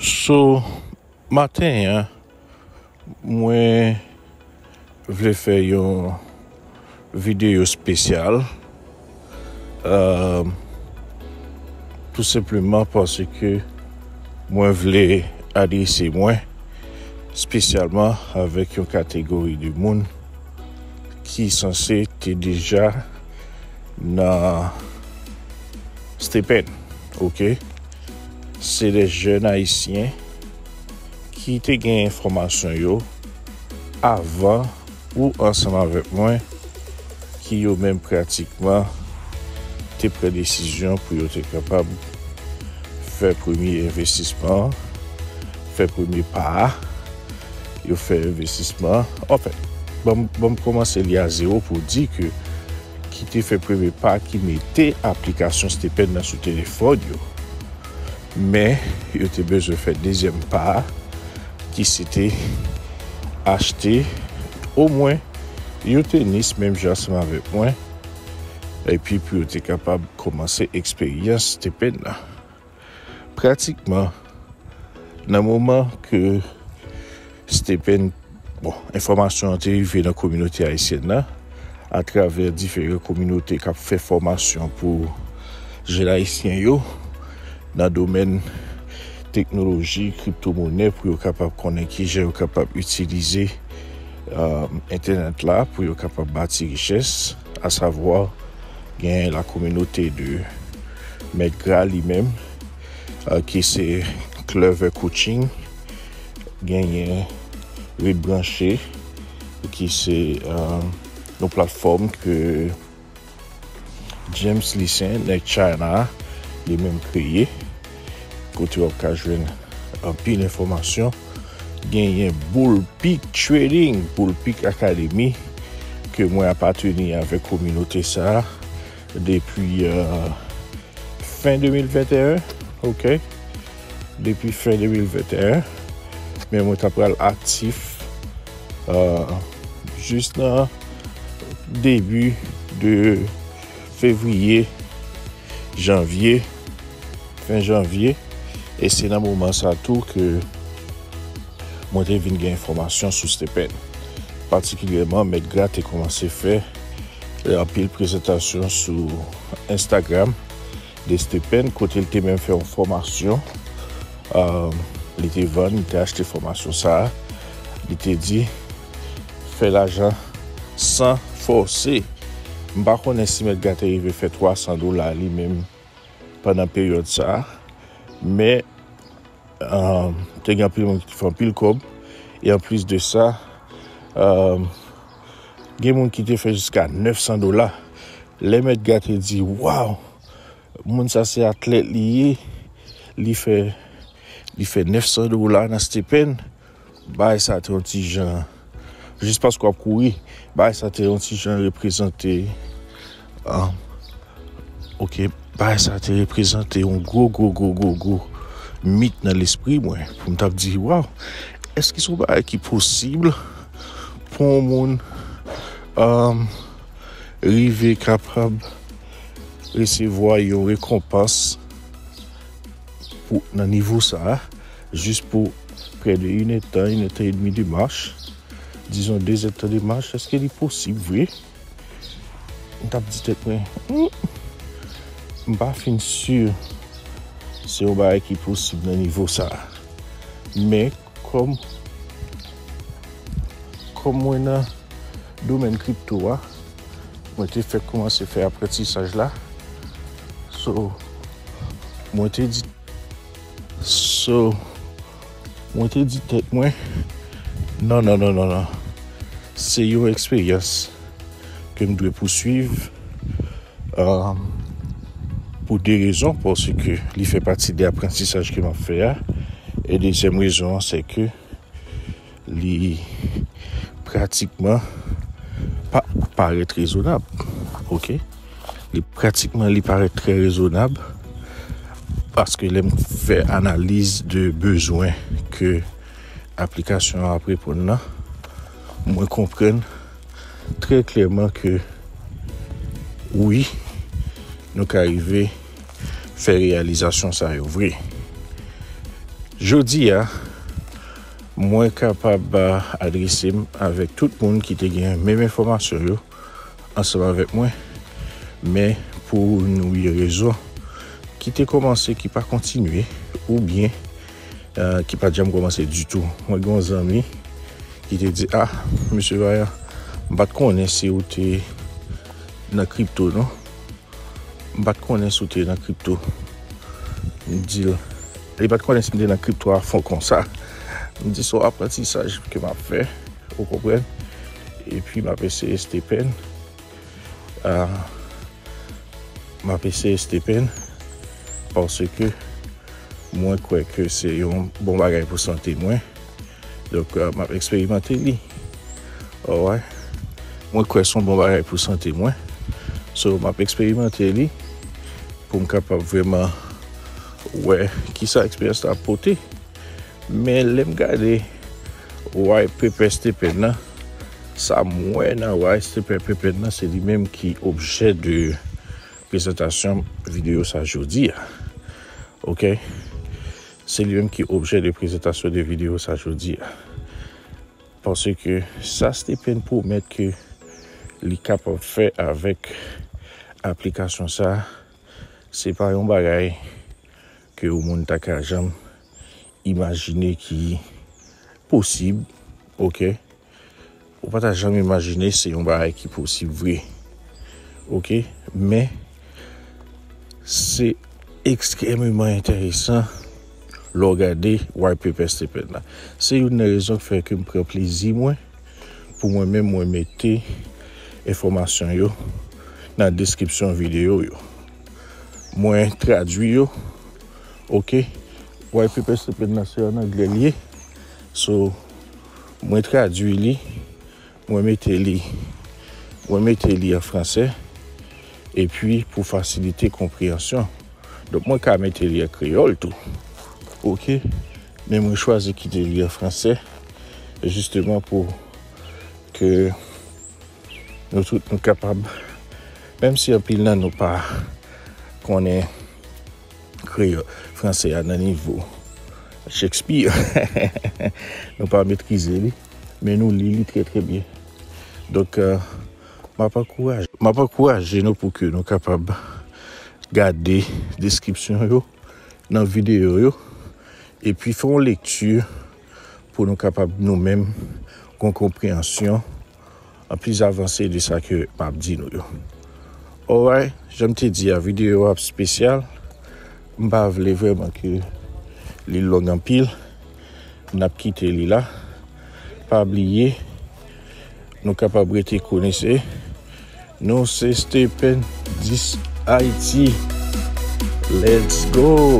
So maten an mwen vle fè yon videyo spesyal euh tou senpleman paske mwen vle adrese mwen spesyalman avèk yon kategori de moun. ki sanse te deja nan Stephen, ok? Se de jèn ayisyen ki te gen enfòmasyon yo avan ou ansanm avèk mwen ki yo menm pratikman te pran desizyon pou yo te kapab fè premye envestisman an, fè premye pa a. Yo fè envestisman. Anfen, ban m kòmanse li a zewo pou w di ke ki te fè premye pa ki mete aplikasyon Stephen nan sou telefòn yo. Men, yo te bezwen fè dezyèm pa a ki se te achte omwen yon tenis menm jan ansanm avèk mwen epi pou yo te kapab kòmanse eksperyans Stephen nan. Pratikman, nan moman ke Stephen, bon, enfòmasyon an te rive nan kominote ayisyèn nan, atravè diferan kominote k ap fè fòmasyon pou jèn ayisyen yo, nan domèn teknoloji, kripto monè, pou yo kapab konnen ki jan yo kapab itilize entènèt la, pou yo kapab bati richès. A savoir gen la communauté de Mèt Gra li menm ki se Clever Coaching, genyen Ret Branche ki se yon platfòm ke James Lucien nèg China li menm kreye. kote wap ka jwenn anpil enfòmasyon genyen boulpik trading boulpik akademi ke mwen apateni avèk kominote sa depi fen 2021 ok depi fen 2021 men mwen ta pral aktif jis nan debi de Fevriye, Janvye, fen Janvye, e se nan moman sa tou ke mwen te vin gen enfòmasyon sou Stephen. Patikilyèman, Mèt Gra te kòmanse fè anpil prezantasyon sou Instagram de Stephen, kote li te menm fè yon fòmasyon, li te vann, li te achte fòmasyon sa a, li te di. Fè lajan san fòse. M pa konnen si mèt gate rive fè 300 dola li menm pandan peryòd sa a, men te gen anpil moun ki te fè anpil kòb e anplis de sa gen moun ki te fè jiska 900 dola. Lè mèt gate di waw moun sa se atlèt li ye, li fè 900 dola nan stepèn Baay sa te yon ti jan, jis paske wap kouri, baay sa te yon ti jan reprezante, um, ok, baay sa te reprezante yon gwo gwo gwo gwo gwo mit nan lespri mwen, pou m tap di, waw, eske son baay ki posib pou yon moun um, rive kapab resevwa yon rekonpans pou nan nivo sa a? Jis pou prè de yn è tan, yn è tan edmi de mach, dizon de zè tan de mach, èske li posib vre? M t ap di tèt mwen, hum, m pa fin si se yon bagay ki posib nan nivo sa a. Men, kòm, kòm mwen nan domèn kripto a, mwen te fèk koumanse fè aprantisaj la, so, mwen te di. So, mwen te di tèt mwen, non, non, non, non, non. Se yon eksperyans ke m dwe pouswiv um, pou de rezon, paske li fè pati de aprantisaj ke m ap fè a. E dezyèm rezon an, se ke Li pratikman pa parèt rezonab. Ok. Li pratikman li parèt trè rezonab. Paske lè m fè analiz de bezwen ke aplikasyon ap reponn nan. Mwen konprenn trè klèman ke wi nou ka rive fè reyalizasyon sa yo vre. Jodi a Mwen kapab adrese m avèk tout moun ki te gen menm enfòmasyon yo ansanm avèk mwen, men pou nou ye rezon ki te kòmanse ki pa kontinye ou byen ki pa t janm kòmanse ditou. Mwen gen yon zanmi ki te di a Mesye Vayan m pa t konnen si ou te nan kripto non, m pa t konnen si ou te nan kripto, m di l. Li pat konnen si m te nan kripto a fon konsa. M di son aprantisaj ke map fè, ou konprann, epi map eseye stepen, map eseye stepen paske mwen kwè ke se yon bon bagay pou sante mwen, donk map eksperimante li, alright, mwen kwè son bon bagay pou sante mwen, so map eksperimante li pou m kapab vreman. Wè kisa eksperyans la ap pote. Men lè m gade way pepè Stephen nan, sa m wè nan way Stephen Pepè nan se li menm ki objè de prezantasyon videyo sa jodi a. Ok? Se li menm ki objè de prezantasyon de videyo sa jodi a. Pase ke sa Stephen pwomèt ke li kapab fè avèk aplikasyon sa, Se pa yon bagay ke yon moun ta ka janm imajine ki posib, ok. Ou pa ta janm imajine se yon bagay ki posib vre, ok. Men, se ekstrememan enteresan lè w gade White Papers te plenn la. Se youn nan rezon ki fè ke m pran plezi mwen. Pou mwen menm mwen mete enfòmasyon yo nan deskripsyon videyo yo. Mwen tradwi yo ok White paper se pen nan se an anglè li ye so mwen tradwi li mwen mete li mwen mete li an fransè epi pou fasilite konpreyansyon donk mwen ka mete li an kreyòl tou ok Men mwen chwazi kite li an franse jisteman pou ke nou tout nou kapab menm si anpil nan nou pa konnen kreyò franse a nan nivo Shakespeare nou pa metrize li men nou li li trè trè byen donk m ap ankouraje m ap ankouraje nou pou ke nou kapab gade deskripsyon yo. nan videyo yo epi fè yon lekti pou nou kapab nou menm gon konpreyansyon an plis avanse de sa ke m ap di nou yo. Oray, jan m te di a, videyo ap spesyal, m pa vle vreman ke li long anpil, n ap kite li la, pa bliye, Nou kapab rete konesè. Nou se Stephen 10 Haiti. Let's go!